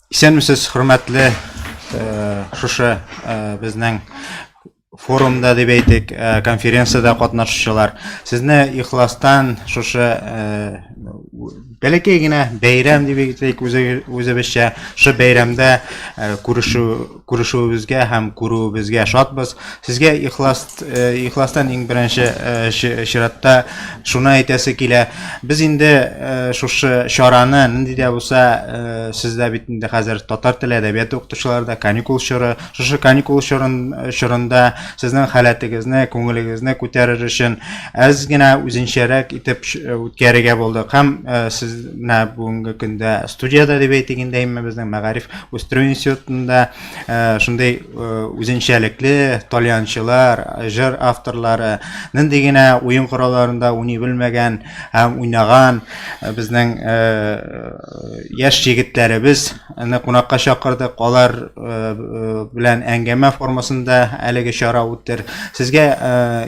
Исәнмесез, хөрмәтле э, шушы э, безнең форумда дип әйтик, э, конференциядә катнашучылар. Сезне ихластан шушы бәләкәй генә бәйрәм дип әйтик, үзебезчә, шушы бәйрәмдә күрешү Күрешүебезгә һәм күрүебезгә шатбыз. Сезгә ихлас э, ихластан иң беренче э, чиратта шуны әйтәсе килә. Без инде э, шушы чараны нинди дә булса сездә бит инде хәзер татар теле әдәбияты укытучылары да каникул чоры. Шушы каникул чорын чорында сезнең халәтегезне, күңелегезне күтәрер өчен әз генә үзенчәрәк итеп үткәрергә булдык. Һәм сез менә бүгенге көндә студияда дип әйтик инде безнең мәгариф үстерү институтында шундый үзенчәлекле тальянчылар җыр авторлары нинди генә уен коралларында уйный белмәгән һәм уйнаган безнең яшь егетләребез аны кунакка чакырдык алар белән әңгәмә формасында әлеге чара үттер сезгә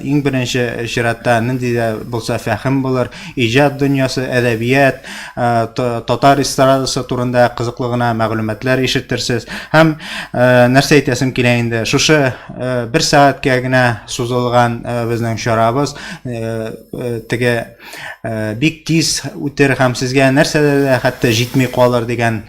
иң беренче чиратта нинди дә булса фәһем булыр иҗат дөньясы әдәбият татар эстрадасы турында кызыклы гына мәгълүматлар ишетерсез. Һәм нәрсә әйтәсем килә инде, шушы бер сәгатькә генә сузылган безнең чарабыз теге бик тиз үтер һәм сезгә нәрсә дә хәтта җитми калыр дигән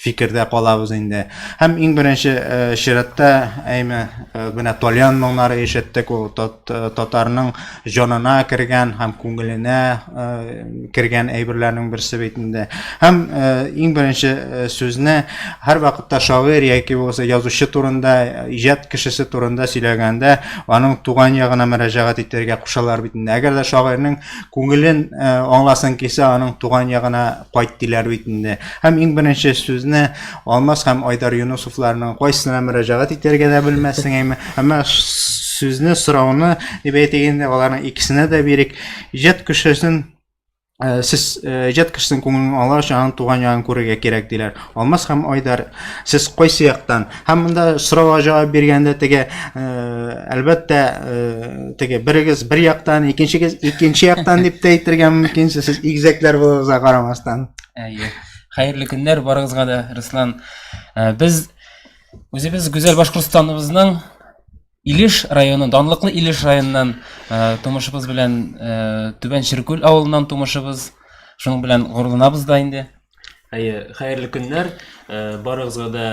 фикердә калабыз инде. Һәм иң беренче э, чиратта әйме э, менә Тольян моңнары ишеттек, ул тот, э, татарның җанына кергән һәм күңеленә э, кергән әйберләрнең берсе бит инде. Һәм э, иң беренче э, сүзне һәр вакытта шагыйрь яки булмаса язучы турында, иҗат кешесе турында сөйләгәндә, аның туган ягына мөрәҗәгать итәргә кушалар бит инде. Әгәр дә шагыйрьнең күңелен э, аңласын кисә, аның туган ягына кайт диләр бит инде. Һәм иң беренче сүзне Алмаз һәм Айдар Юнусовларның кайсына мөрәҗәгать итәргә дә белмәссең әйме. Әмма сүзне, сорауны дип әйтик инде, аларның икесенә дә бирик. Иҗат кешесен Э, сез э, иҗат кешесенең күңелен аңлар өчен аның туган ягын күрергә кирәк диләр Алмаз һәм Айдар, сез кайсы яктан? Һәм монда сорауга җавап биргәндә теге э, әлбәттә э, теге берегез бер яктан, икенчегез икенче яктан дип тә әйтергә мөмкин, сез игезәкләр булуыгызга карамастан. Әйе. Хәерле көннәр барыгызга да, Руслан. Э, без үзебез гүзәл Башкортстаныбызның Илеш районы, данлыклы Илеш районыннан э, тумышыбыз белән э, Түбән Черкүл авылыннан тумышыбыз. Шуның белән горурланабыз да инде. Әйе, хәерле көннәр. Э, барыгызга да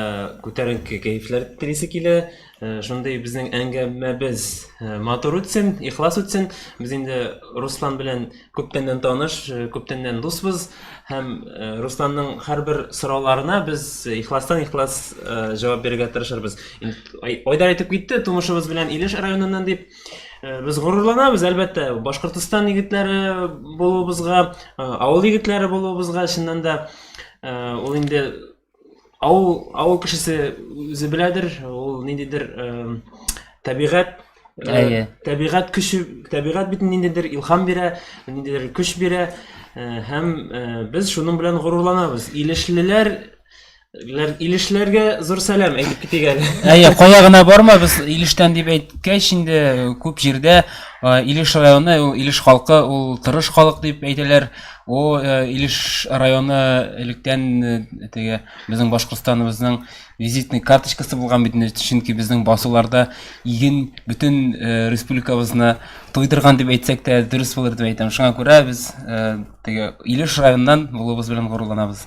күтәренке кәефләр телисе килә. Э, шундый безнең әңгәмәбез э, матур үтсен, ихлас үтсен. Без инде Руслан белән күптәннән таныш, э, күптәннән дусбыз һәм э, Русланның һәрбер сорауларына без ихластан ихлас э, җавап бирергә тырышырбыз. Айдар әйтеп китте, тумышыбыз белән Илеш районыннан дип. Без горурланабыз, әлбәттә, Башкортостан егетләре булуыбызга, авыл егетләре булуыбызга, чыннан да ул инде Авыл, авыл кешесе үзе беләдер, ул ниндидер эм, табигать э, Әйе. табигать көче, табигать бит ниндидер илһам бирә, ниндидер көч бирә э, һәм э, без шуның белән горурланабыз. Илешлеләр ләр- Илешләргә зур сәлам әйтеп китик әле. Әйе, кая гына барма, без Илештән дип әйткәч инде э, күп җирдә э, Илеш районы, ул Илеш халкы, ул тырыш халык дип әйтәләр. О, э, Илеш районы электән э, теге безнең Башкортстаныбызның визитный карточкасы булган бит, чөнки безнең басуларда иген бөтен э, республикабызны туйдырган дип әйтсәк тә дөрес булыр дип әйтәм. Шуңа күрә без теге Илеш районыннан булуыбыз белән горурланабыз.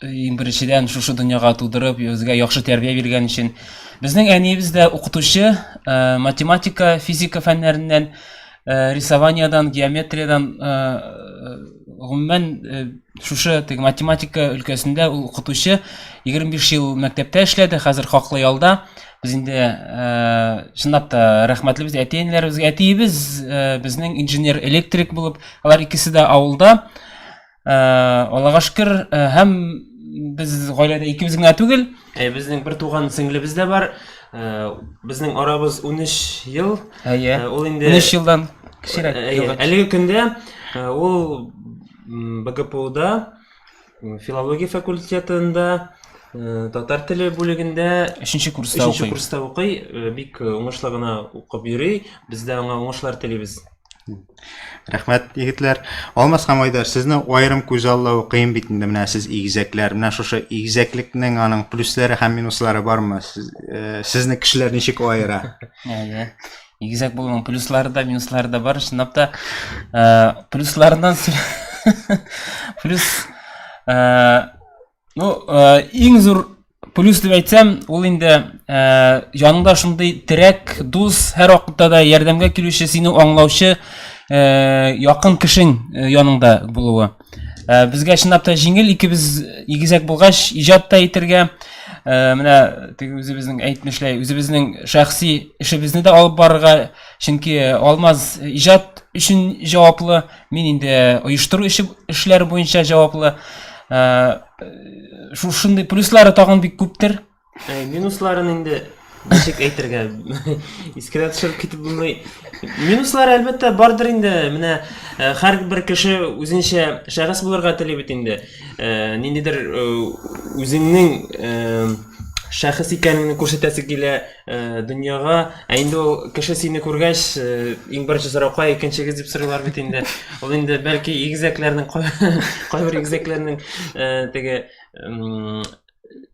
Иң беренчедән шушы дөньяга тудырып, безгә яхшы тәрбия биргән өчен. Безнең әниебез дә укытучы, э, математика, физика фәннәреннән, э, рисованиядән, геометриядән, э, гомумән, э, шушы теге математика өлкәсендә ул укытучы. 25 ел мәктәптә эшләде, хәзер хаклы ялда. Без инде, э, чынлап та рәхмәтле без әти-әниләребезгә. Әтиебез, э, безнең инженер-электрик булып, алар икесе дә авылда. Э, аллага шөкер э, һәм без гаиләдә икебез генә түгел э, безнең бер туган сеңлебез дә бар безнең арабыз 13 ел әйе ул инде 13 елдан кечерәк әлеге көндә ул бгпуда филология факультетында татар теле бүлегендә өченче курста укый өченче курста укый бик уңышлы гына укып йөри без дә аңа уңышлар телибез рәхмәт егетләр алмас һәм айдар сезне аерым күз аллау кыен бит инде менә сез игезәкләр менә шушы игезәклекнең аның плюслары һәм минуслары бармы сез, э, сезне кешеләр ничек аера әйе игезәк булуның плюслары да минуслары да бар чынлап та э, плюсларыннан плюс э, Ну, э, иң зур плюс дип әйтсәм, ул инде э, яныңда шундый терәк, дус, һәр вакытта да ярдәмгә килүче, сине аңлаучы э, якын кешең э, яныңда булуы. Э, безгә чынлап та җиңел, икебез игезәк булгач, иҗат та итергә, э, менә теге үзебезнең әйтмешләй, үзебезнең шәхси эшебезне дә алып барырга, чөнки Алмаз иҗат өчен җаваплы. Мин инде оештыру эше эшләре буенча җаваплы. Э, шушындый плюслары тагын бик күптер. Э, минусларын инде ничек әйтергә искә төшереп китеп булмый. Минуслары әлбәттә бардыр инде. Менә э, һәрбер кеше үзенчә шәхес булырга тели бит инде. Ниндидер үзеңнең шәхес икәнеңне күрсәтәсе килә. Э, дөньяга ә инде ул кеше сине күргәч э, иң беренче сорау кая икенчегез дип сорыйлар бит инде ул инде бәлки игезәкләрнең кайбер игезәкләрнең э, теге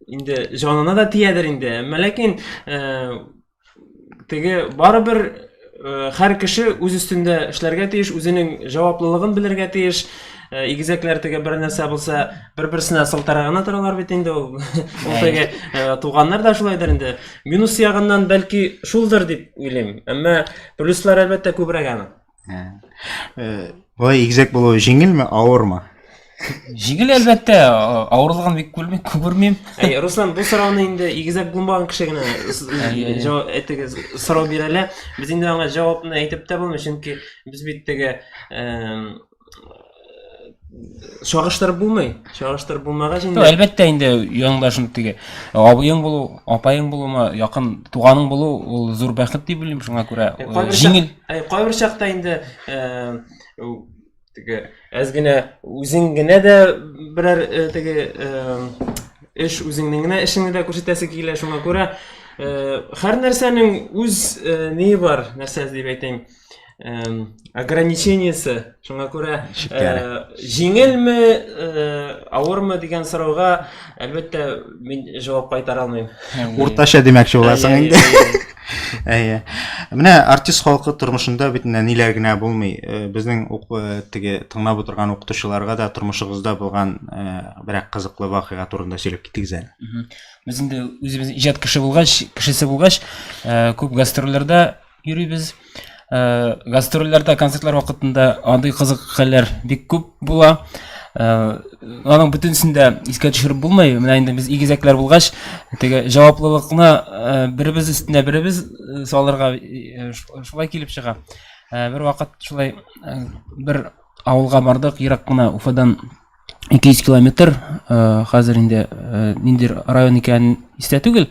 инде җанына да тиядер инде әмма ләкин теге барыбер Хәр кеше үз өстендә эшләргә тиеш, үзенең җаваплылыгын белергә тиеш. Игезәкләр теге бер нәрсә булса, бер-берсенә сылтара гына торалар бит инде ул. Ул теге туганнар да шулайдыр инде. Минус ягыннан бәлки шулдыр дип уйлыйм. Әмма плюслар әлбәттә күбрәк аның. Бу игезәк булу җиңелме, авырмы? Җиңел әлбәттә, авырлыгын бик күрмим, күрмим. Әй, Руслан, бу сорауны инде игезәк булмаган кеше генә җавап әйтегез, сорау бирә әле. Без инде аңа җавапны әйтеп тә булмый, чөнки без бит теге чагыштырып булмый. Чагыштырып булмагач инде. Әлбәттә инде яңдашын теге абыең булу, апаең булума, якын туганың булу ул зур бәхет дип уйлыйм, шуңа күрә җиңел. Кайбер чакта инде теге әз генә үзең генә дә берәр э, теге э, эш үзеңнең генә эшеңне дә күрсәтәсе килә шуңа күрә э, һәр нәрсәнең үз ни бар нәрсә дип әйтәйм ограничениесе шуңа күрә җиңелме авырмы дигән сорауга Әлбәттә, мин җавап кайтара алмыйм. Уртача димәкче буласың инде. Әйе. Менә артист халкы тормышында бит менә ниләр генә булмый. Э, безнең э, теге тыңлап утырган укытучыларга да тормышыгызда булган э, берәк кызыклы вакыйга турында сөйләп китегез әле. Без инде үзебез иҗат кеше булгач, кешесе булгач, күп гастрольләрдә йөрибез. Э, гастрольләрдә, концертлар вакытында андый кызык хәлләр бик күп була. Э, аның бөтенесен дә искә төшереп булмый. Менә инде без игезәкләр булгач, теге җаваплылыкны э, беребез өстенә беребез э, салырга шулай килеп чыга. Бер вакыт шулай бер авылга бардык, ерак кына Уфадан 200 километр э, хәзер инде э, ниндер район икәнен истә түгел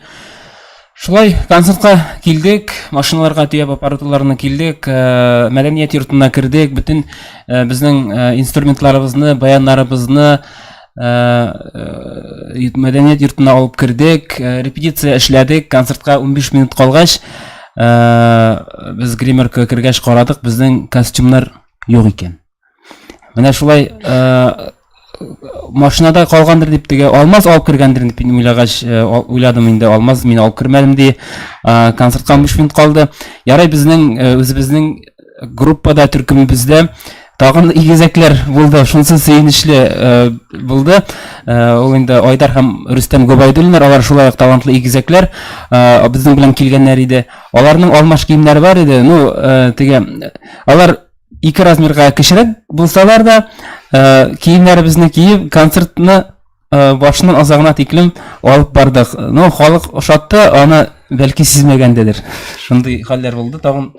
шулай концертка килдек машиналарга төяп аппаратураларны килдек э, мәдәният йортына кердек бөтен безнең инструментларыбызны баяннарыбызны мәдәният йортына алып кердек репетиция эшләдек концертка 15 минут калгач без гримерка кергәч карадык безнең костюмнар юк икән Менә шулай э, машинада калгандыр дип теге алмаз алып кергәндер дип уйлагач э, уйладым инде алмаз мин алып кермәдем ди э, концертка биш минут калды ярай безнең э, үзебезнең группада төркемебездә тагын игезәкләр булды шунысы сөенечле булды ул инде айдар һәм рөстәм гобайдуллиннар алар шулай ук талантлы игезәкләр безнең белән килгәннәр иде аларның алмаш киемнәре бар иде ну теге алар ике размерга кечерәк булсалар да ә, киемнәребезне киеп концертны ә, башыннан азагына тиклем алып бардык но халык ошатты аны бәлки сизмәгәндедер шундый хәлләр булды тагын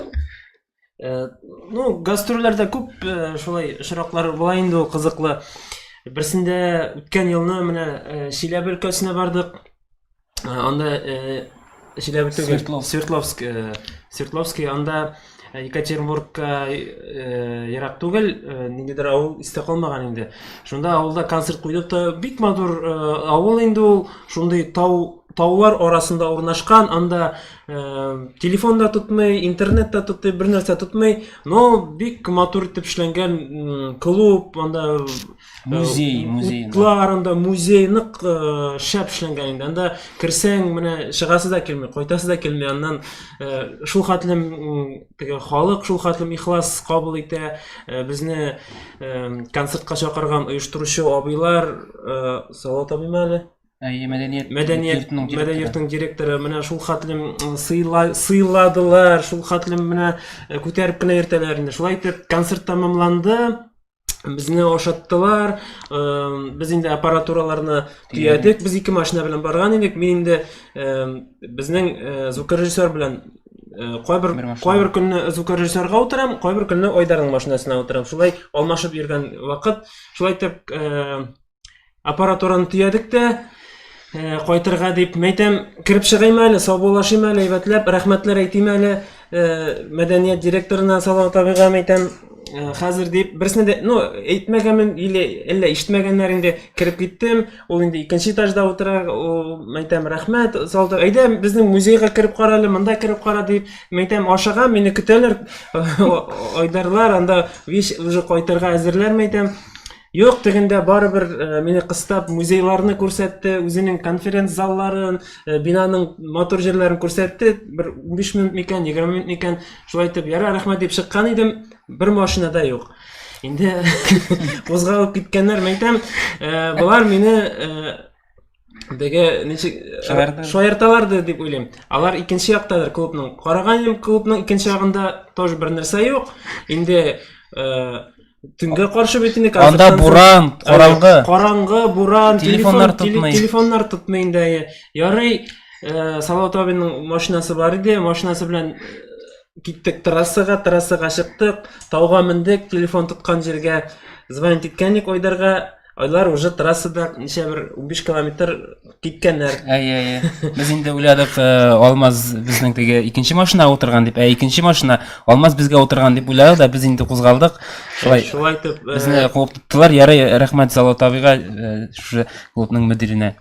э, ну гастрольләрдә күп э, шулай очраклар була инде ул кызыклы берсендә үткән елны менә э, чиләбе өлкәсенә бардык анда җиләбе түгел свердловск свердловск анда екатеринбургка ерак түгел ниндидер авыл истә калмаган инде шунда авылда концерт куйдык та бик матур авыл инде ул шундый тау таулар арасында урнашкан анда телефон да тотмый интернет та тотмый бер нәрсә тотмый но бик матур итеп эшләнгән клуб анда музей музей утларында музей нык э, шәп эшләнгән инде анда керсәң менә чыгасы да килми кайтасы да килми аннан э, шул хәтлем теге халык шул хәтлем ихлас кабул итә э, безне концертка чакырган оештыручы абыйлар салат абыйм әле әйе мәдәният мәдәният мәдәният йортының директоры менә шул хәтлем сыйладылар шул хәтлем менә күтәреп кенә йөртәләр инде шулай итеп концерт тәмамланды безне ашаттылар без инде аппаратураларны төядек без ике машина белән барган идек мин инде безнең звукорежиссер белән кайбер кайбер көнне звукорежиссерга утырам кайбер көнне айдарның машинасына утырам шулай алмашып йөргән вакыт шулай итеп Аппаратураны төядек тә, э, кайтырга дип мәйтәм, кереп чыгыйм әле, саубуллашыйм әле, әйбәтләп, рәхмәтләр әйтим әле, э, мәдәният директорына, Салават абыйга мәйтәм, э, хәзер дип, берсенә дә, ну, әйтмәгәнмен, или әллә ишетмәгәннәр инде, кереп киттем, ул инде икенче этажда утыра, ул, мәйтәм, рәхмәт, Салават, әйдә, безнең музейга кереп кара әле, монда кереп кара дип, мәйтәм, ашыгам, мине көтәләр, Айдарлар, анда вещь уже кайтырга әзерләр, мәйтәм, Юк, тегендә барыбер э, мине кыстап музейларны күрсәтте, үзенең конференц залларын, э, бинаның матур җирләрен күрсәтте. Бер 15 минут микән, 20 минут микән, шулай итеп, яра, рәхмәт дип чыккан идем, бер машина да юк. Инде кузгалып киткәннәр, мәйтәм, э, болар мине Беге ничек э, шаярталарды дип уйлыйм. Алар икенче яктадыр клубның. Караган идем клубның икенче ягында тоже бер нәрсә юк. Инде э, төнгә каршы бит инде Анда буран, караңгы. Караңгы, буран, телефоннар тотмый. Телефоннар тотмый инде. Ярый, э, Салават абиның машинасы бар иде, машинасы белән киттек трассага трассага чыктык тауга мендек телефон тоткан җиргә звонить иткәнник айдарга Айлар уже трассада ничә бер 15 километр киткәннәр. Әй, әй, әй. Без инде уйладык, э, Алмаз безнең теге икенче машина утырган дип, ә икенче машина Алмаз безгә утырган дип уйладык да, без инде кузгалдык. Шулай. Шулай итеп, э, безне куып тоттылар. Ярый, рәхмәт Зала табига, э, шушы клубның мөдиренә.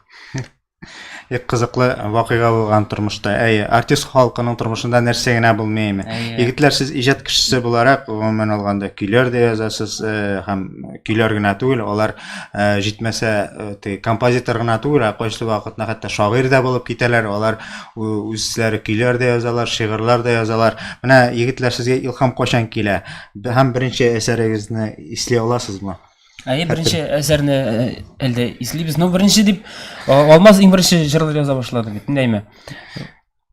Бик кызыклы вакыйга булган тормышта. Әйе, артист халкының тормышында нәрсә генә булмыймы? Егетләр, сез иҗат кешесе буларак, гомумән алганда, көйләр дә язасыз, э, һәм көйләр генә түгел, алар э, җитмәсә, э, теге композитор гына түгел, ә кайсы вакытна хәтта шагыйрь дә булып китәләр, алар үзләре көйләр дә язалар, шигырьләр дә язалар. Менә егетләр, сезгә илһам кайчан килә? Һәм беренче әсәрегезне исли аласызмы? Әйе, беренче әсәрне э, әлдә ислибез. Ну, беренче дип э, Алмаз иң беренче җырлар яза башлады бит, нәйме.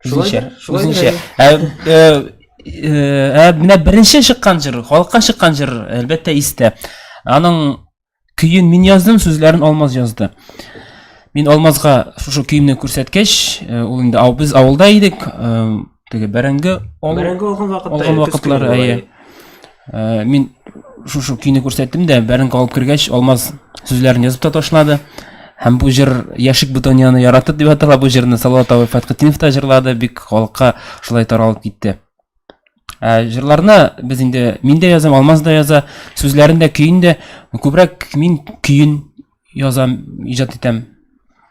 Шулайча. Шулайча. Ә э, менә беренче чыккан җыр, халыкка чыккан җыр, әлбәттә, истә. Аның көен мин яздым, сүзләрен Алмаз язды. Мин Алмазга шушы көемне күрсәткәч, ул инде ау без авылда идек, теге бәрәңге алган вакытта, алган вакытлары, әйе. Э, мин шушы көйне күрсәттем дә бәренкә алып кергәч алмаз сүзләрен язып та ташлады һәм бу җыр яшик бутоньяны яратып дип атала бу җырны салават абый фатхетдинов та җырлады бик халыкка шулай таралып китте ә, җырларны без инде мин дә язам алмаз да яза сүзләрен дә көен дә күбрәк мин көен язам, иҗат итәм.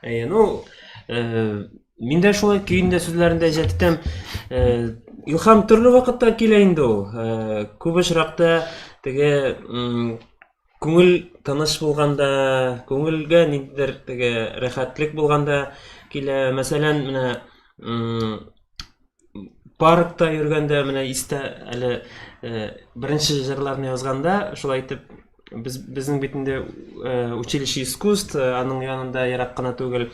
Әйе, ну, э, мин дә шулай көендә сүзләрендә иҗат итәм. Э, илһам төрле вакытта килә инде ул. Э, күп очракта теге күңел тыныч булганда, күңелгә ниндидер теге рәхәтлек булганда килә. Мәсәлән, менә паркта йөргәндә менә истә әле э, беренче җырларны язганда шулай итеп без безнең бит инде э, училище искусств э, аның янында ерак кына түгел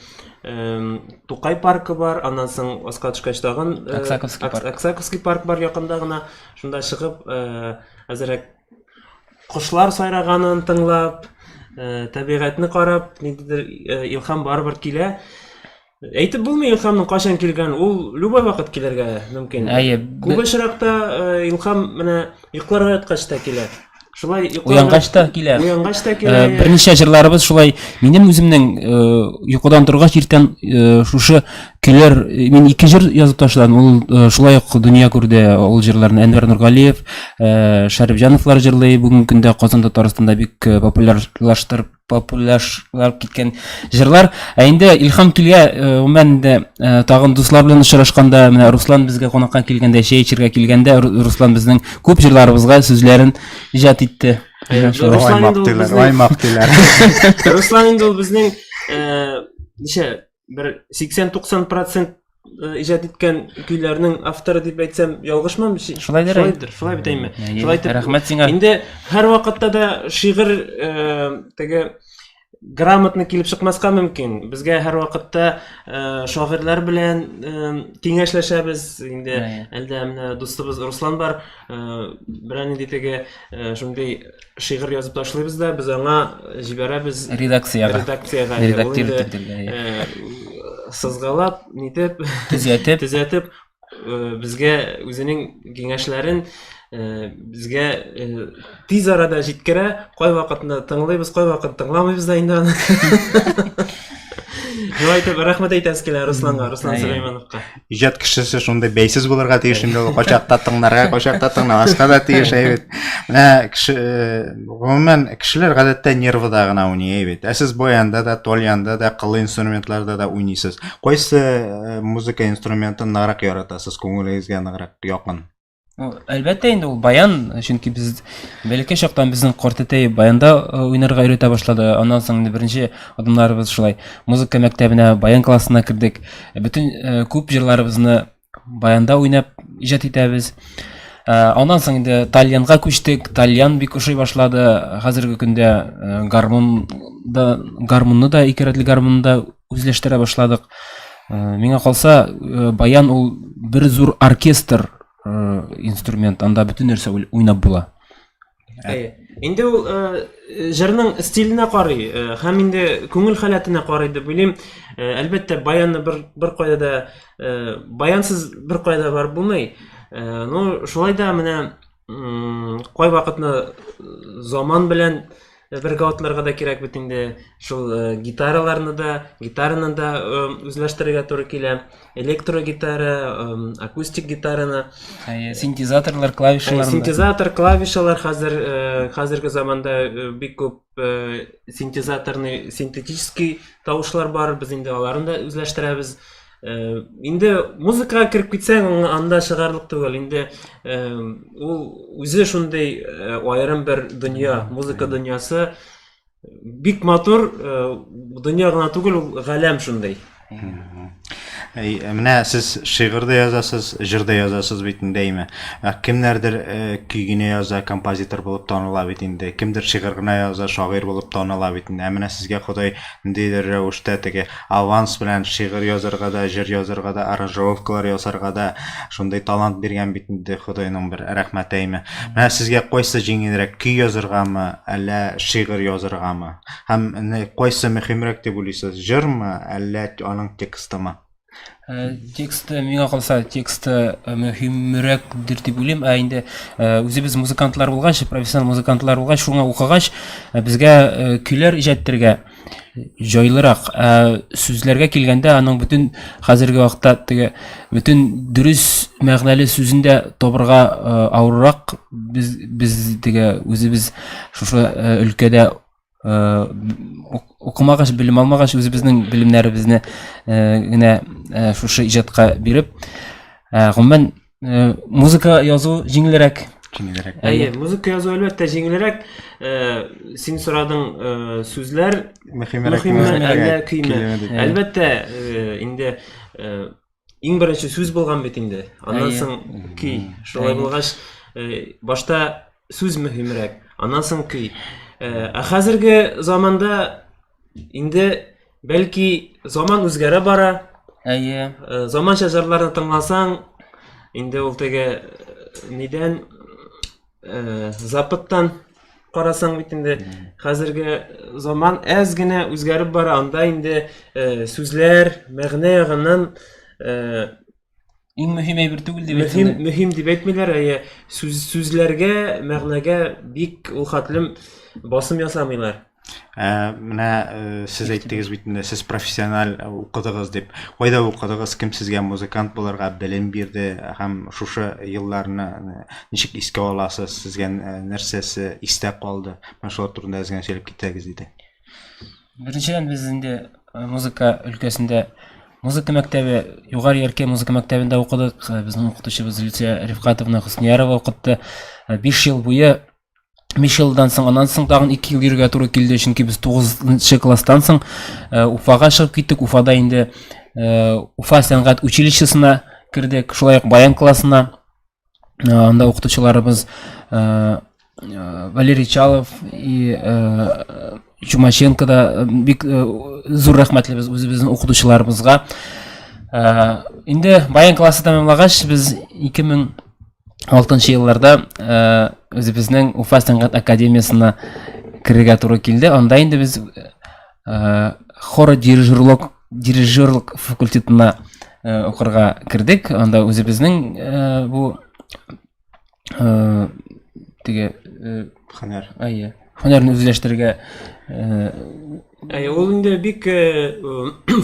тукай паркы бар аннан соң аска төшкәч тагын аксаковский парк аксаковский парк бар якында гына шунда чыгып әзерәк кошлар сайраганын тыңлап табигатьне карап ниндидер илһам барыбер килә Әйтеп булмый Илхамның кайчан килгән, ул любой вакыт килергә мөмкин. Әйе. Күп очракта э, Илхам менә йокларга яткач та килә. Шулай йокларга... Уянгач та килә. Уянгач та килә. Э, берничә җырларыбыз шулай минем үземнең э, йокыдан торгач иртән шушы килер. Мин ике җыр язып ташладым. Ул шулай ук дөнья күрде. Ул җырларны Әнвәр Нургалиев, Шәрифҗановлар җырлый. Бүгенге көндә Казан Татарстанда бик популярлаштырып популярлашып киткән җырлар. Ә инде Илһам килгә, гомумән инде тагын дуслар белән очрашканда, менә Руслан безгә кунакка килгәндә, чәй эчәргә килгәндә Руслан безнең күп җырларыбызга сүзләрен иҗат итте. Руслан инде ул безнең Руслан инде ул безнең ничә бер 80-90 процент э, иҗат иткән көйләрнең авторы дип әйтсәм ялгышмам шулайдыр шулайдыр шулай бит әйме шулай итеп рәхмәт сиңа инде һәрвакытта да шигырь э, теге грамотно килеп чыкмаска мөмкин безгә һәрвакытта э, шагыйрьләр белән киңәшләшәбез инде әлдә менә дустыбыз руслан бар берәр нинди теге шундый шигырь язып ташлыйбыз да без аңа җибәрәбез редакциягә редакциягә редактир сызгалап нитеп төзәтеп төзәтеп безгә үзенең киңәшләрен безгә тиз арада җиткерә кайвакытны тыңлыйбыз кайвакыт тыңламыйбыз да инде аны шулай итеп рәхмәт әйтәбез килә русланга руслан сөләймановка иҗат кешесе шундый бәйсез булырга тиеш инде ул качакта тыңларга качакта тыңламаска да тиеш әй бит менә кеше гомумән кешеләр гадәттә нервыда гына уйный әй бит ә сез баянда да тольянда да кыллы инструментларда да уйныйсыз кайсы музыка инструментын ныграк яратасыз күңелегезгә ныграк якын Әлбәттә инде ул баян, чөнки без бәләкәй чактан безнең картәтәй баянда уйнарга өйрәтә башлады. Аннан соң инде беренче адымнарыбыз шулай. Музыка мәктәбенә, баян классына кердек. Бөтен күп җырларыбызны баянда уйнап иҗат итәбез. Аннан соң инде тальянга күчтек. Тальян бик ошый башлады. Хәзерге көндә гармун да гармунны да ике рәтле гармунны да үзләштерә башладык. Э, миңа калса, э, баян ул бер зур оркестр э, инструмент, анда бөтен нәрсә уйнап була. Ә, инде ул җырның стиленә карый һәм инде күңел халәтенә карый дип уйлыйм. Әлбәттә, баянны бер бер кайда да баянсыз бер кайда бар булмый. Ну, шулай да менә кай вакытны заман белән Бергә атларга да кирәк бит инде. Шул гитараларны да, гитараны да үзләштерергә туры килә. Электрогитара, акустик гитараны. Синтезаторлар, клавишалар. Синтезатор, клавишалар хәзер хәзерге заманда бик күп синтезаторный, синтетический тавышлар бар. Без инде аларны да үзләштерәбез. Э, инде музыкага кереп китсәң аңа анда чыгарлык түгел инде э, ул үзе шундый э, аерым бер дөнья музыка дөньясы бик матур дөнья гына түгел ул галәм шундый Әй, менә сез шигырь дә язасыз, җыр да язасыз бит инде әйме. Ә кемнәрдер э, көй генә яза, композитор булып таныла бит инде. Кемдер шигырь генә яза, шагыйрь булып таныла бит инде. Ә менә сезгә Ходай ниндидер рәвештә теге Аванс белән шигырь язарга да, җыр язарга да, аранжировкалар ясарга да шундый талант биргән бит инде Ходайның бер рәхмәтеме. Менә сезгә кайсы җиңелрәк, көй язаргамы, әллә шигырь язаргамы? Һәм кайсы мөһимрәк дип уйлыйсыз, җырмы, әллә аның текстымы? Тексты, миңа калса, тексты мөһимрәкдер дип уйлыйм, ә инде үзебез музыкантлар булгач, профессионал музыкантлар булгач, шуңа укыгач, безгә көйләр иҗат итәргә, җайлырак. Ә сүзләргә килгәндә, аның бөтен хәзерге вакытта теге бөтен дөрес мәгънәле сүзен дә табырга авыррак. Без без теге үзебез шушы өлкәдә укымагач, белем алмагач, үзебезнең белемнәребезне генә шушы иҗатка биреп, гомумән Э, музыка язу җиңелрәк. Җиңелрәк. Әйе, музыка язу әлбәттә җиңелрәк. Э, син сорадың э, сүзләр мөһимрәк әллә көйме? Әлбәттә, инде иң беренче сүз булган бит инде. Аннан соң көй. Шулай булгач, башта сүз мөһимрәк, аннан соң көй. Ә хәзерге заманда инде Бәлки заман үзгәрә бара. Әйе. Э, заманча җырларны тыңласаң, инде ул теге э, нидән э, запыттан карасаң бит инде хәзерге заман әз генә үзгәреп бара, анда инде сүзләр мәгънә ягыннан Иң мөһим әйбер түгел дип әйтсәң. Мөһим, мөһим дип әйтмиләр, әйе. Сүз сүзләргә, мәгънәгә бик ул хәтлем басым ясамыйлар. Ә, менә э, сез әйттегез бит инде, сез профессиональ э, укыдыгыз дип. Кайда укыдыгыз, кем сезгә музыкант булырга белем бирде һәм шушы елларны э, ничек искә аласыз, сезгә нәрсәсе истә калды? Менә шулар турында әз генә сөйләп китсәгез иде. Беренчедән без инде э, музыка өлкәсендә музыка мәктәбе, Югары Яркәй музыка мәктәбендә укыдык. Э, безнең укытучыбыз Люция Рифкатовна Хөсниярова укытты. 5 э, ел буе 5 елдан соң, аннан соң тагын 2 ел йөрергә туры килде, чөнки без 9 класстан соң Уфага чыгып киттек. Уфада инде Уфа сәнгать училищесына кердек, шулай ук баян классына анда укытучыларыбыз валерий чалов и чумаченко да бик зур рәхмәтлебез үзебезнең укытучыларыбызга инде баян классы тәмамлагач без ике мең алтынчы елларда үзебезнең уфа сәнгать академиясына керергә туры килде анда инде без Э, хора дирижерлык дирижерлык факультетына э, укырга кердек анда үзебезнең э, бу теге хөнәр әйе хөнәрне үзләштерергә әйе ул инде бик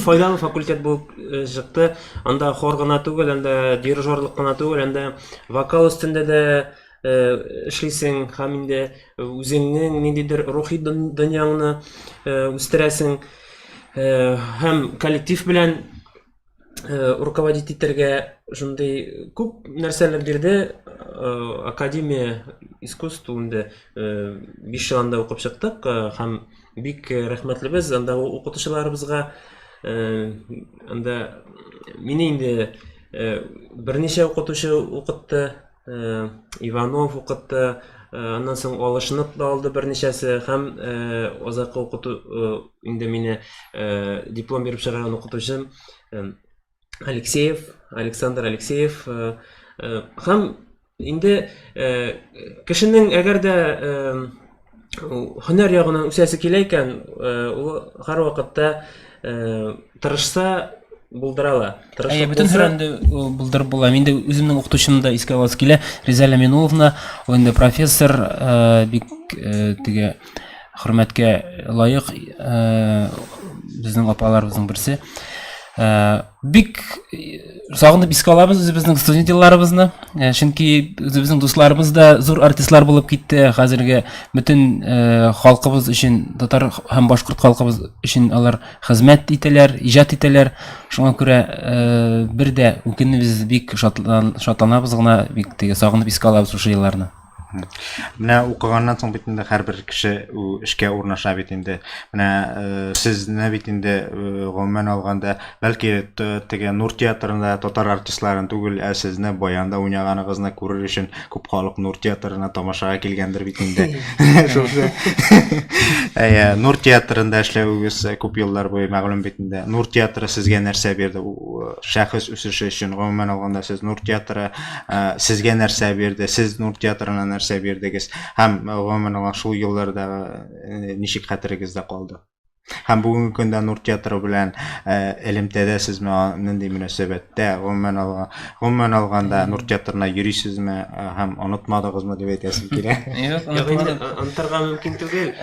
файдалы факультет булып чыкты анда хор гына түгел анда дирижерлык кына түгел анда вокал өстендә дә эшлисең һәм инде үзеңнең ниндидер рухи дөньяңны үстерәсең һәм коллектив белән руководить итәргә шундый күп нәрсәләр бирде академия искусств инде биш ел анда укып чыктык һәм бик рәхмәтлебез анда укытучыларыбызга анда мине инде берничә укытучы укытты Иванов укытты, аннан соң алышынып та алды берничәсе һәм азакы укыту инде мине диплом биреп чыгарган укытучым Алексеев, Александр Алексеев һәм инде кешенең әгәр дә һөнәр ягыннан үсәсе килә икән, ул һәрвакытта тырышса булдыра ала. Әйе, бөтен һөрәнде булдырып була. Мин дә үземнең укытучымны да искә аласы килә. Риза Ләминовна, ул инде профессор, бик теге хөрмәткә лаек безнең апаларыбызның берсе. бик сагынып искә алабыз үзебезнең студент елларыбызны э, чөнки үзебезнең дусларыбыз да зур артистлар булып китте хәзерге бөтен э, халкыбыз өчен татар һәм башкорт халкыбыз өчен алар хезмәт итәләр иҗат итәләр шуңа күрә э, бер дә үкенмибез бик шатланабыз гына бик теге сагынып искә алабыз шушы елларны Менә укыганнан соң бит инде һәрбер кеше эшкә урнаша бит инде. Менә э, сезне бит инде э, гомумән алганда, бәлки теге Нур театрында татар артистларын түгел, ә сезне баянда уйнаганыгызны күрер өчен күп халык Нур театрына тамашага килгәндер бит инде. Шушы. Әйе, Нур театрында эшләвегез күп еллар буе мәгълүм бит инде. Нур театры сезгә нәрсә бирде? Шәхес үсеше өчен гомумән алганда сез Нур театры сезгә нәрсә бирде сез нур театрына нәрсә бирдегез һәм гомумән алган шул еллардагы ничек хәтерегездә калды һәм бүгенге көндә нур театры белән элемтәдә сезме нинди мөнәсәбәттә гомумән алган гомумән алганда нур театрына йөрисезме һәм онытмадыгызмы дип әйтәсем килә юк онытырга мөмкин түгел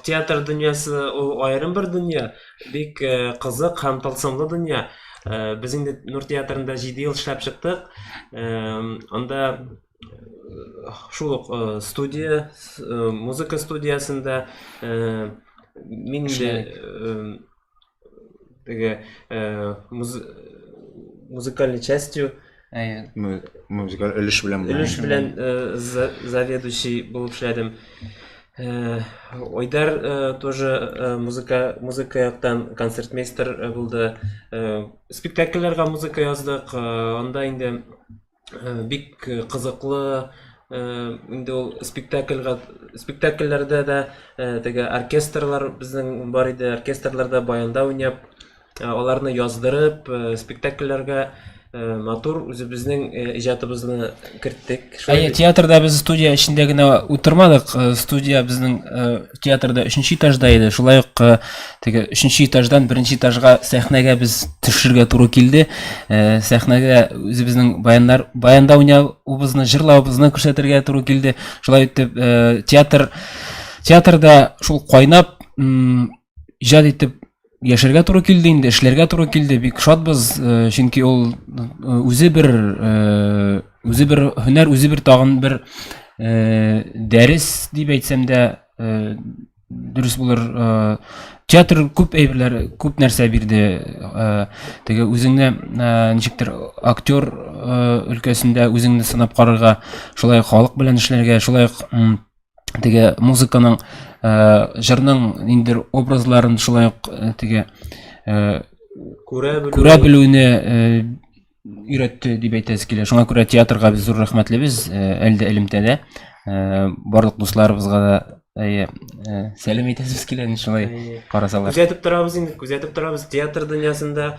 театр дөньясы ул аерым бер дөнья Бик э, кызык һәм тылсымлы дөнья. Э, без инде Нур театрында 7 ел эшләп чыктык. Э, анда шул ук студия, музыка студиясендә мин инде теге музыкальный частью Әйе. Музыкаль өлеш белән. Өлеш белән заведующий булып эшләдем. Э, Ойдар э, тоже э, музыка музыка яктан концертмейстер булды. Спектакльләргә музыка яздык. Анда инде бик кызыклы инде ул спектакльгә спектакльләрдә дә теге оркестрлар безнең бар иде. Оркестрларда баянда уйнап Ә аларны яздырып, э, спектакльләргә э, матур үзебезнең э, иҗатыбызны керттек. Шулай Әйе, бит? театрда без студия эчендә генә утырмадык. Э, Студия безнең э, театрда өченче этажда иде. Шулай ук э, теге өченче этаждан беренче этажга сәхнәгә без төшергә туры килде. Э, Сәхнәгә үзебезнең баяннар баянда уйнавыбызны, җырлавыбызны күрсәтергә туры килде. Шулай итеп э, театр театрда шул кайнап м, иҗат итеп яшәргә туры килде инде эшләргә туры килде бик шатбыз э, чөнки ул э, үзе бер э, үзе бер һөнәр үзе бер тагын бер дәрес дип әйтсәм дә дөрес булыр театр күп әйберләр күп нәрсә бирде теге үзеңне ничектер актер өлкәсендә үзеңне сынап карарга шулай халык белән эшләргә шулай теге музыканың ә, җырның ниндидер образларын шулай ук э, теге ә, күрә белүне өйрәтте дип әйтәсе килә шуңа күрә театрга без зур рәхмәтлебез әлдә элемтәдә барлык дусларыбызга да әйе сәлем әйтәсебез килә инде шулай карасалар күзәтеп торабыз инде күзәтеп торабыз театр дөньясында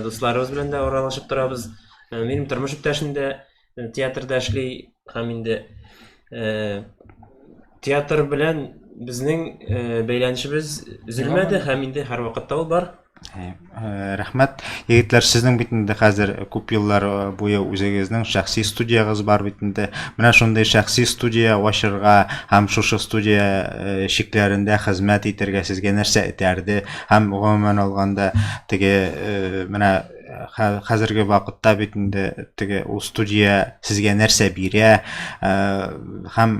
дусларыбыз белән дә аралашып торабыз минем тормыш иптәшем дә театрда эшли һәм инде э, театр белән безнең э, бәйләнешебез өзелмәде һәм инде һәрвакытта ул бар э, рәхмәт егетләр сезнең бит инде хәзер күп еллар буе үзегезнең шәхси студиягыз бар бит инде менә шундый шәхси студия ачырга һәм шушы студия чикләрендә хезмәт итәргә сезгә нәрсә этәрде һәм гомумән алганда теге менә хәзерге вакытта бит инде теге ул студия сезгә нәрсә бирә һәм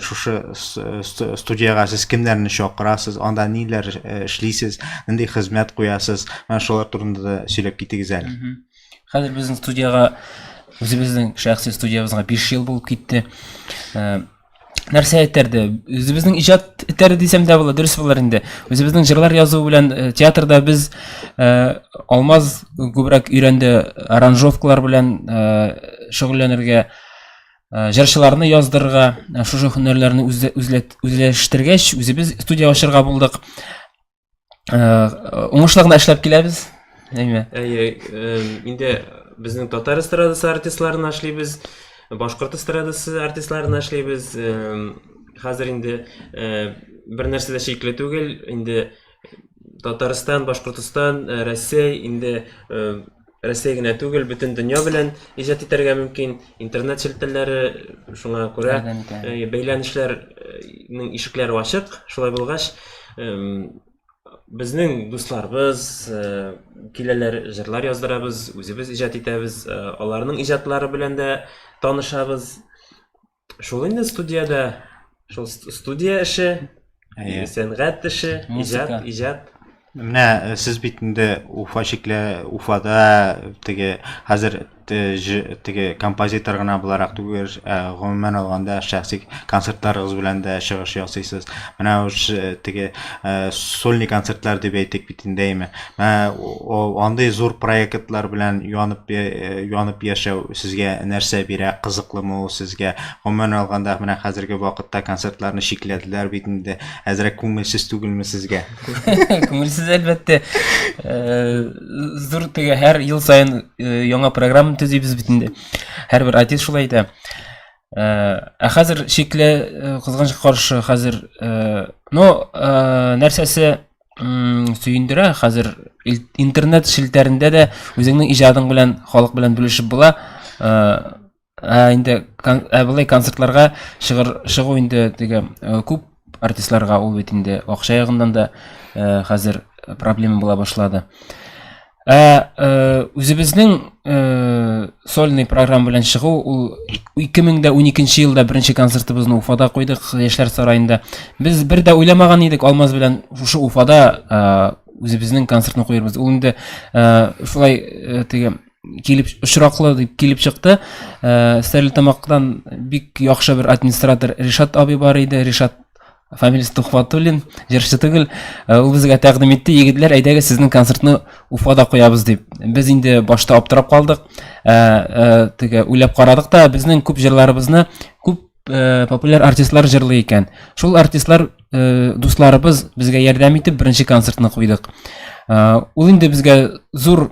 шушы студияга сез кемнәрне чакырасыз анда ниләр эшлисез нинди хезмәт куясыз менә шулар турында да сөйләп китегез әле хәзер безнең студияга үзебезнең шәхси студиябезгә биш ел булып китте нәрсә этәрде үзебезнең иҗат этәрде дисәм дә була дөрес булыр инде үзебезнең җырлар язу белән э, театрда без э, алмаз күбрәк өйрәнде аранжировкалар белән э, шөгыльләнергә э, җырчыларны яздырырга э, шушы һөнәрләрне үзләштергәч үзебез студия ачырга булдык уңышлы гына эшләп киләбез әйме әйе инде безнең татар эстрадасы артистларына эшлибез башкорт эстрадасы артистларына эшлибез хәзер инде бер нәрсә дә шикле түгел инде татарстан башкортстан рәсәй инде Рәсәй генә түгел, бөтен дөнья белән иҗат итәргә мөмкин. Интернет челтәрләре шуңа күрә бәйләнешләрнең ишекләре ачык. Шулай булгач, безнең дусларыбыз киләләр, җырлар яздырабыз, үзебез иҗат итәбез, аларның иҗатлары белән дә танышабыз. Шул инде студиядә, шул студия эше, Әйе. сәнгать эше, иҗат, иҗат. Менә э, сез бит инде Уфа чикле, Уфада теге хәзер теге композитор гына буларак түгел, э, гомумән алганда шәхси концертларыгыз белән дә чыгыш ясыйсыз. Менә теге э, сольный концертлар дип әйтик бит инде, әйме? андый зур проектлар белән янып янып яшәү сезгә нәрсә бирә кызыклымы ул сезгә гомумән алганда менә хәзерге вакытта концертларны чикләделәр бит инде әзрәк күңелсез түгелме сезгә күңелсез әлбәттә зур теге һәр ел саен яңа программа төзибез бит инде һәрбер артист шулай әйтә ә хәзер чиклә кызганыч каршы хәзер но нәрсәсе сөендерә хәзер интернет челтәрендә дә үзеңнең иҗадың белән халык белән бүлешеп була ә инде ә болай концертларга чыгыр чыгу инде теге күп артистларга ул бит инде акча ягыннан да хәзер проблема була башлады Ә э, үзебезнең э, сольный программа белән чыгу ул 2012 елда беренче концертыбызны Уфада куйдык Яшьләр сараенда. Без бер дә уйламаган идек Алмаз белән шушы Уфада э, үзебезнең концертны куярбыз. Ул инде шулай теге килеп очраклы дип килеп чыкты. Ә, Стәрлетамактан бик яхшы бер администратор Ришат абый бар иде. Ришат Фамилияс Тухватуллин, җырчы түгел, э, ул безгә тәкъдим итте, егетләр, әйдәгез сезнең концертны Уфада куябыз дип. Без инде башта аптырап калдык, э, э, теге уйлап карадык та, безнең күп җырларыбызны күп э, популяр артистлар җырлый икән. Шул артистлар э, дусларыбыз безгә ярдәм итеп беренче концертны куйдык. Э, ул инде безгә зур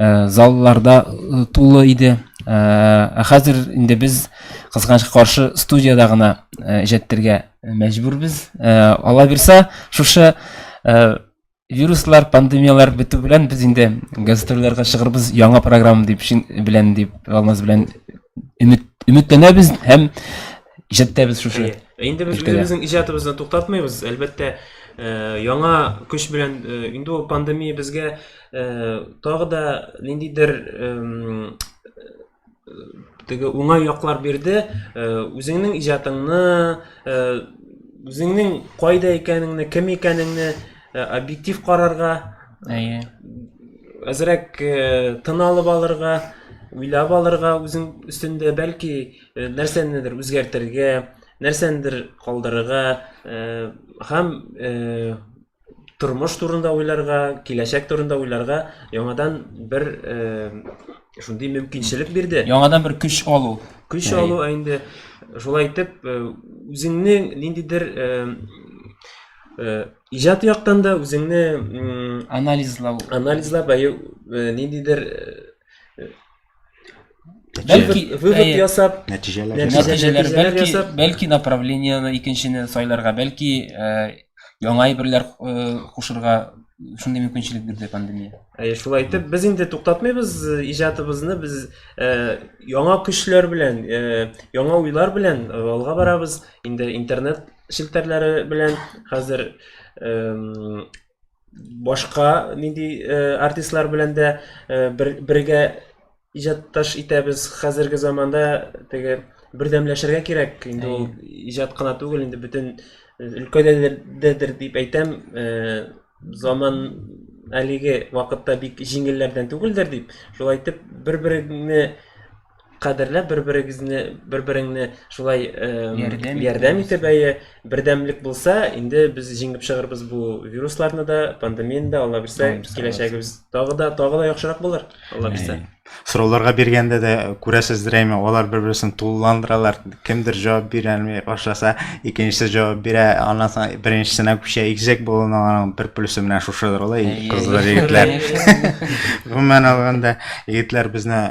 Э, залларда э, тулы иде э, ә хәзер инде без кызганычка каршы студияда гына иҗәттергә мәҗбүрбез алла бирса шушы вируслар пандемиялар бетү белән без инде гастрольләргә чыгырбыз яңа программа дип белән дип алмаз белән өмет өметләнәбез һәм иҗаттәбез шушы инде без үзебезнең иҗатыбызны туктатмыйбыз әлбәттә яңа көч белән инде ул пандемия безгә тагы да ниндидер теге уңай яклар бирде үзеңнең иҗатыңны үзеңнең кайда икәнеңне кем икәнеңне объектив карарга әйе әзрәк тын алып алырга уйлап алырга үзең өстендә бәлки нәрсәнедер үзгәртергә нәрсәнедер калдырырга һәм тормыш турында уйларга, киләчәк турында уйларга яңадан бер э, шундый мөмкинчелек бирде. Яңадан бер көч алу. Көч алу инде шулай итеп э, үзеңне ниндидер э, э, иҗат яктан да үзеңне анализлау, анализлап, әйе, ниндидер Бәлки вывод ясап, нәтиҗәләр нәтиҗәләр бәлки ясап, бәлки направлениене икенчене сайларга, бәлки яңа әйберләр кушырга шундый мөмкинчелек бирде пандемия. Әйе, шулай итеп без инде туктатмыйбыз иҗатыбызны, без яңа көчләр белән, яңа уйлар белән алга барабыз. Инде интернет челтәрләре белән хәзер башка нинди артистлар белән дә бергә иҗатташ итәбез хәзерге заманда теге бердәмләшергә кирәк инде ул иҗат кына түгел инде бөтен өлкәдәдер дип әйтәм заман әлеге вакытта бик җиңелләрдән түгелдер дип шулай итеп бер береңне кадерләп бер берегезне бер береңне шулай ярдәм, ярдәм итеп әйе бердәмлек булса инде без җиңеп чыгырбыз бу вирусларны да пандемияны да алла бирсә киләчәгебез тагы да тагы да яхшырак булыр алла бирсә сорауларга биргәндә дә күрәсездер әйме алар бер берсен тулыландыралар кемдер җавап бирәлми башласа икенчесе җавап бирә аннан соң беренчесенә күчә икзәк болын аның бер плюсы менә шушыдыр ул кызлар егетләр гомумән алганда егетләр безне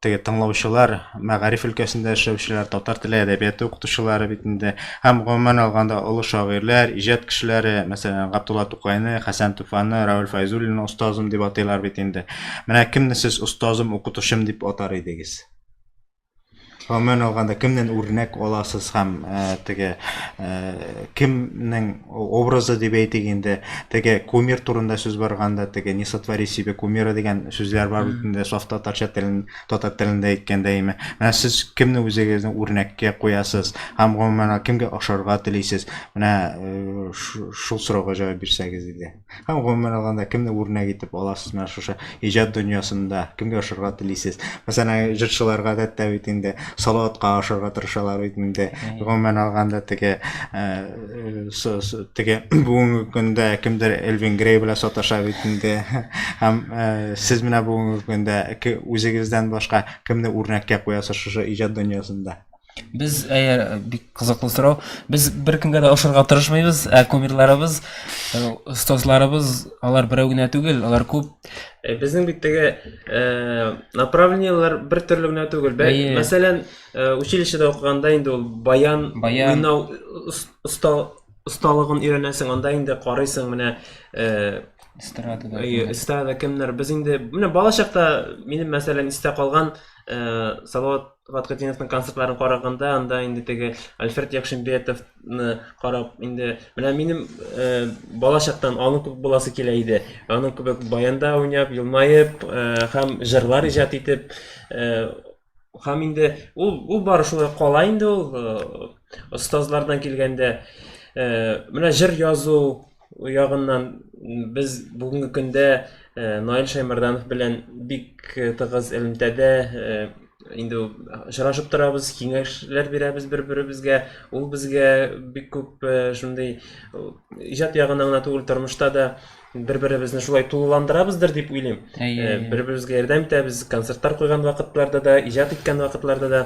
теге тыңлаучылар мәгариф өлкәсендә эшләүчеләр татар теле әдәбияты укытучылары бит инде һәм гомумән алганда олы шагыйрьләр иҗат кешеләре мәсәлән габдулла тукайны хәсән туфанны равил фәйзуллинны остазым дип атыйлар бит инде менә кемне сез остазым укытучым дип атар идегез Гомумән алганда, кемнән үрнәк аласыз һәм э, теге э, кемнең образы дип әйтик инде, теге кумир турында сүз барганда, теге не сотвори себе кумира дигән сүзләр бар бит инде саф татарча телен, татар телендә әйткәндә име. Менә сез кемне үзегезне үрнәккә куясыз һәм гомумән кемгә ошарга телисез? Менә э, шул сорауга җавап бирсәгез иде. Һәм гомумән алганда кемне үрнәк итеп аласыз менә шушы иҗат дөньясында? Кемгә ошарга телисез? Мәсәлән, җырчылар гадәттә бит инде Салаватка ошарга тырышалар бит инде. Гомумән алганда теге э, теге бүгенге көндә кемдер Элвин Грей белән саташа бит инде. Һәм э, сез менә бүгенге көндә үзегездән башка кемне үрнәккә куясыз шушы иҗат дөньясында? Без әгәр бик кызыклы сорау. Без беркемгә дә ошарга тырышмыйбыз, ә кумирларыбыз, остазларыбыз, алар берәү генә түгел, алар күп. Безнең бит теге направлениеләр бер төрле генә түгел. Мәсәлән, училищеда укыганда инде ул баян, баян осталыгын өйрәнәсең, анда инде карыйсың менә эстрадада. Эстрадада кемнәр? Без инде менә балачакта минем мәсәлән истә калган Салават Кубат Катиневның концертларын караганда, анда инде теге Альфред Якшимбетовны карап, инде менә минем э, бала чактан аның күп буласы килә иде. Аның күбек баянда уйнап, елмаеп, э, һәм җырлар иҗат итеп, э, һәм инде ул ул бары шулай кала инде ул э, остазлардан килгәндә. Э, менә җыр язу, ягыннан без бүгенге көндә Наил Шаймарданов белән бик тыгыз элемтәдә инде очрашып торабыз, киңәшләр бирәбез бер-беребезгә. Ул безгә бик күп шундый иҗат ягына гына түгел, тормышта да бер-беребезне шулай тулыландырабыздыр дип уйлыйм. Бер-беребезгә ярдәм итәбез, концертлар куйган вакытларда да, иҗат иткән вакытларда да.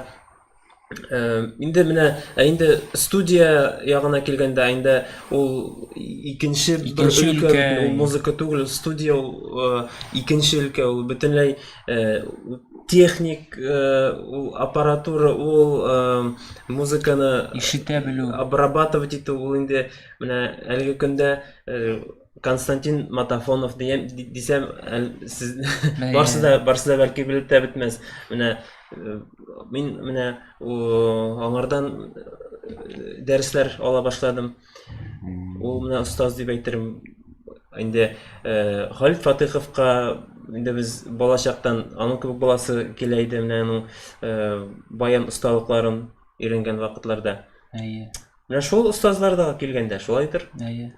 Инде менә ә инде студия ягына килгәндә инде ул икенче бер өлкә, ул музыка түгел, студия ул икенче өлкә, ул бөтенләй техник ул аппаратура, ул музыканы ишетә белү, обрабатывать итү, ул инде менә әлеге көндә Константин Матафонов дигән дисәм, барсы да барсы да бәлки белеп тә бетмәс. Менә э, мин менә аңардан э, дәресләр ала башладым. Ул менә остаз дип әйтерем. Инде э, Халит Фатыховка инде без балачактан аның кебек баласы килә иде менә аның э, баян осталыкларын өйрәнгән вакытларда әйе менә шул остазлар да килгәндә шулайдыр әйе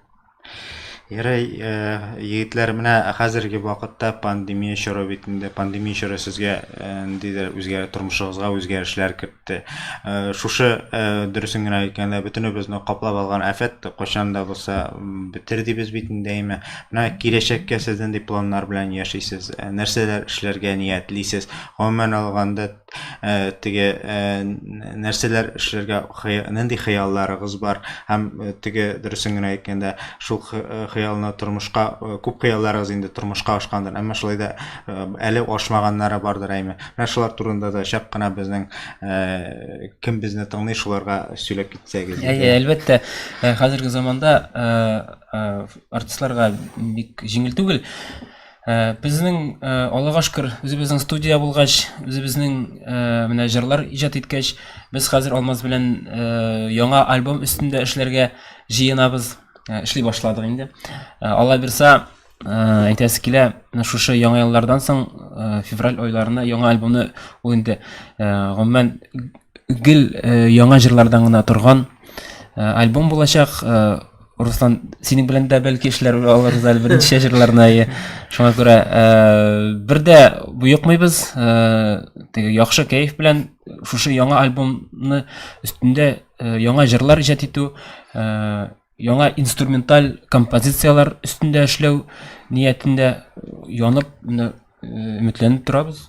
Ярай, э, егетләр, менә хәзерге вакытта пандемия чоры бит инде. Пандемия чоры сезгә э, ниндидер үзгәр тормышыгызга үзгәрешләр кертте. Э, шушы э, дөресен генә әйткәндә бөтенебезне каплап алган афәт кайчан да булса м, бетер дибез бит инде әйме. Менә киләчәккә сез нинди планнар белән яшисез? Э, Нәрсәләр эшләргә ниятлисез? Гомумән алганда Э, теге э, нәрсәләр эшләргә нинди хыялларыгыз бар һәм э, теге дөресен генә әйткәндә шул хыялны тормышка күп хыялларыгыз инде тормышка ашкандыр әмма шулай да әле ашмаганнары бардыр әйме менә шулар турында да чак кына безнең кем безне тыңлый шуларга сөйләп китсәгез әйе әлбәттә хәзерге заманда артистларга бик җиңел түгел Ә, безнең ә, Аллага шөкер, үзебезнең студия булгач, үзебезнең ә, менә җырлар иҗат иткәч, без хәзер Алмаз белән ә, яңа альбом өстендә эшләргә җыенабыз. Ә, эшли башладык инде. Ә, Алла бирса, ә, әйтәсе килә, менә шушы яңа еллардан соң ә, февраль айларына яңа альбомны ул инде ә, гомумән гел ә, яңа җырлардан гына торган ә, альбом булачак. Ә, Руслан, синең белән дә бәлки эшләр алырбыз әле берничә җырларны әйе. Шуңа күрә э, бер дә боекмыйбыз. Э, теге яхшы кәеф белән шушы яңа альбомны өстендә э, яңа җырлар иҗат итү, яңа инструменталь композицияләр өстендә эшләү ниятендә янып, менә өметләнеп торабыз.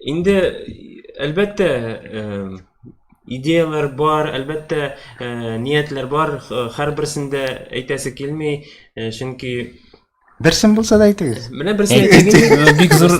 инде әлбәттә идеяләр бар әлбәттә ниятләр бар һәрберсендә әйтәсе килми чөнки берсен булса да әйтегез менә берсен бик зур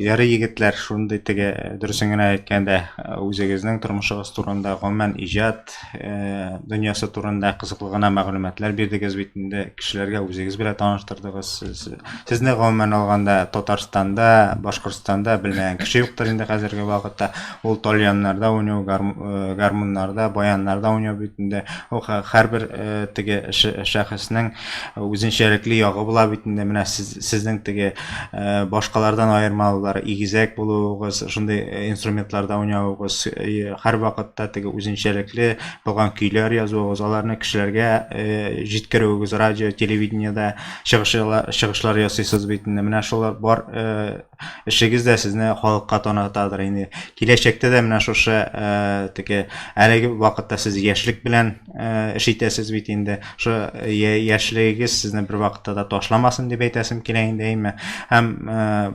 ярый егетләр шундый теге дөресен генә әйткәндә үзегезнең тормышыгыз турында гомумән иҗат дөньясы турында кызыклы гына мәгълүматлар бирдегез бит инде, кешеләргә үзегез белән таныштырдыгыз. Сез, сезне гомумән алганда Татарстанда, Башкортстанда белмәгән кеше юктыр инде хәзерге вакытта. Ул тальяннарда уйнау, гармуннарда, баяннарда уйнау бит инде. Ул һәрбер теге шәхеснең үзенчәлекле ягы була бит инде менә сез, сезнең теге э, башкалардан аермалылары игезәк булуыгыз шундый э, инструментларда уйнавыгыз э, һәр вакытта теге үзенчәлекле булган көйләр язуыгыз аларны кешеләргә э, җиткерүегез радио телевидениедә чыгышлар, чыгышлар ясыйсыз бит инде менә шулар бар э, эшегез дә сезне халыкка танытадыр инде киләчәктә дә менә шушы э, теге әлеге вакытта сез яшьлек белән эш итәсез бит инде. Шо яшьлегегез сезне бер вакытта да ташламасын дип әйтәсем килә инде әйме. Һәм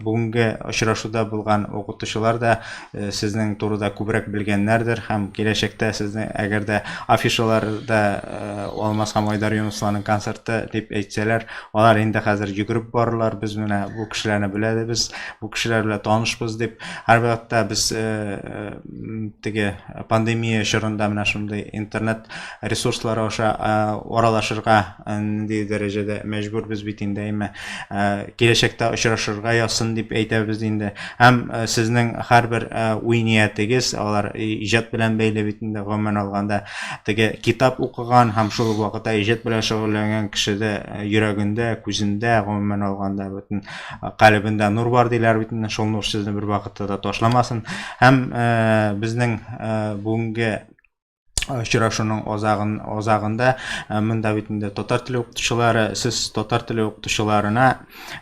бүгенге очрашуда булган укытучылар да сезнең турыда күбрәк белгәннәрдер һәм киләчәктә сезне әгәр дә афишаларда Алмаз һәм Айдар Юнусларның концерты дип әйтсәләр, алар инде хәзер йөгереп барырлар, без менә бу кешеләрне беләбез, бу кешеләр белән танышбыз дип. Һәрвакытта без теге пандемия чорында менә шундый интернет ресурслары аша аралашырга нинди дәрәҗәдә мәҗбүрбез бит инде әйме киләчәктә очрашырга язсын дип әйтәбез инде һәм сезнең һәрбер уй ниятегез алар иҗат белән бәйле бит инде гомумән алганда теге китап укыган һәм шул ук вакытта иҗат белән шөгыльләнгән кешедә йөрәгендә күзендә гомумән алганда бөтен Калебендә нур бар диләр бит инде, шул нур сезне бер вакытта да ташламасын. Һәм э, безнең э, бүгенге очрашуның азагын азагында э, монда бит инде татар теле укытучылары сез татар теле укытучыларына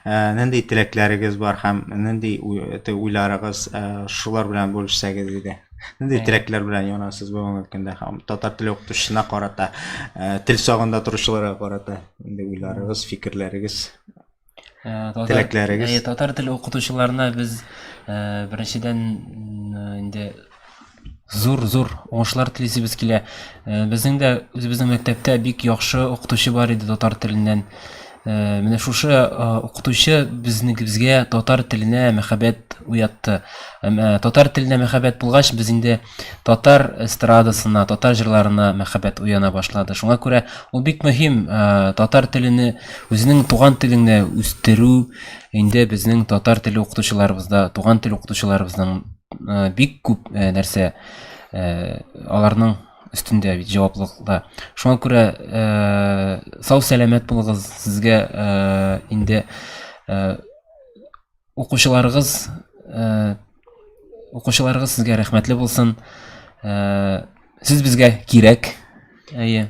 э, нинди теләкләрегез бар һәм нинди уйларыгыз э, шулар белән бүлешсәгез иде нинди теләкләр белән янасыз бүгенге көндә һәм татар теле укытучысына карата тел сагында торучыларга карата нинди уйларыгыз фикерләрегез Э, татар- Теләкләрегез? Э, татар теле укытучыларына без э, беренчедән э, инде зур зур уңышлар телисебез килә Э, безнең дә үзебезнең мәктәптә бик яхшы укытучы бар иде татар теленнән Э, менә шушы э, укытучы безнегебезгә татар теленә мәхәббәт уятты Һәм, э, татар теленә мәхәббәт булгач без инде Татар эстрадасына, татар җырларына мәхәббәт уяна башлады. Шуңа күрә ул бик мөһим татар телене, үзенең туган телеңне үстерү инде безнең татар теле укытучыларыбызда, туган тел укытучыларыбызның бик күп нәрсә аларның өстендә бит җаваплылыкта. Шуңа күрә сау-сәламәт булыгыз, сезгә инде Укучыларыгыз э, укучыларыгыз сезгә рәхмәтле булсын. Э, сез безгә кирәк. Әйе.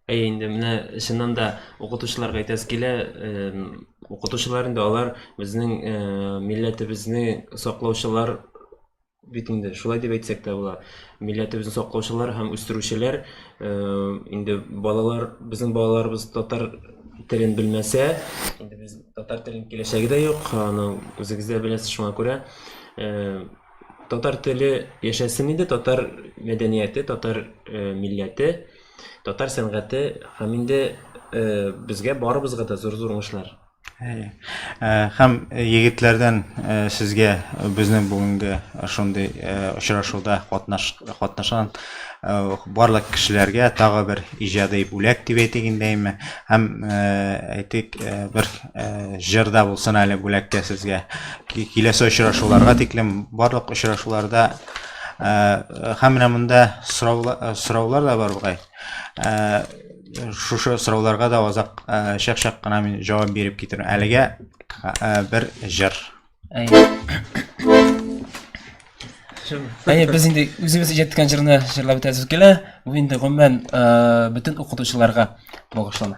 Әйе, инде менә чыннан да укытучыларга әйтәс килә, укытучылар инде алар безнең э, милләтебезне саклаучылар бит инде шулай дип әйтсәк тә була милләтебезне саклаучылар һәм үстерүчеләр э, инде балалар безнең балаларыбыз татар телен белмәсә инде без татар телен киләчәге дә юк аны үзегез дә беләсез шуңа күрә э, татар теле яшәсен инде татар мәдәнияте татар э, милләте татар сәнгате һәм инде безгә барыбызга да зур зур уңышлар Хәм егетләрдән сезгә безнең бүгенге шундый очрашуда катнашкан барлык кешеләргә тагы бер иҗади бүләк дип әйтик инде әйме. Һәм әйтик бер җырда булсын әле бүләккә сезгә. Киләсе очрашуларга тиклем барлык очрашуларда һәм менә монда сораулар да бар бугай. шушы сорауларга да азак э, шәк шәк кына мин җавап биреп китерәм әлегә э, бер җыр әйе без инде үзебез иҗаттаган җырны җырлап үтәбез килә бу инде гомумән э, бөтен укытучыларга багышлана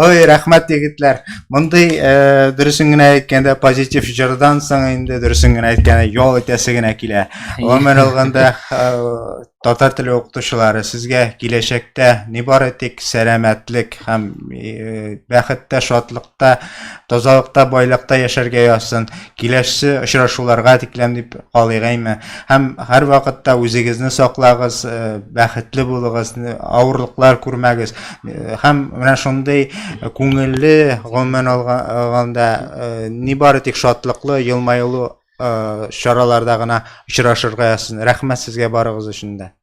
Ой, рәхмәт егетләр. Мондый э, дөресен генә әйткәндә позитив җырдан соң инде дөресен генә әйткәндә ял итәсе генә килә. Гомер алганда э, татар теле укытучылары сезгә киләчәктә ни бары тик сәламәтлек һәм э, бәхеттә, шатлыкта, тазалыкта, байлыкта яшәргә язсын. Киләсе очрашуларга тикләм дип калыйгайме. Һәм һәр вакытта үзегезне саклагыз, э, бәхетле булыгыз, авырлыклар күрмәгез. һәм менә шундый күңелле гомумән алганда нибары тик шатлыклы елмаюлы чараларда гына очрашырга язсын рәхмәт сезгә барыгыз өчен дә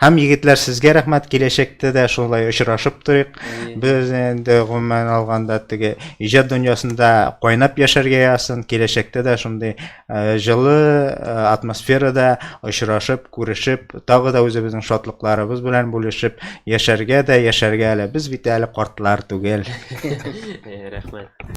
һәм егетләр сезгә рәхмәт киләчәктә дә шулай очрашып торыйк без инде гомумән алганда теге иҗат дөньясында кайнап яшәргә язсын киләчәктә дә шундый Э, жылы э, атмосферада очрашып күрешеп тагы да үзебезнең шатлыкларыбыз белән бүлешеп яшәргә дә яшәргә әле без бит әле картлар түгел э, рәхмәт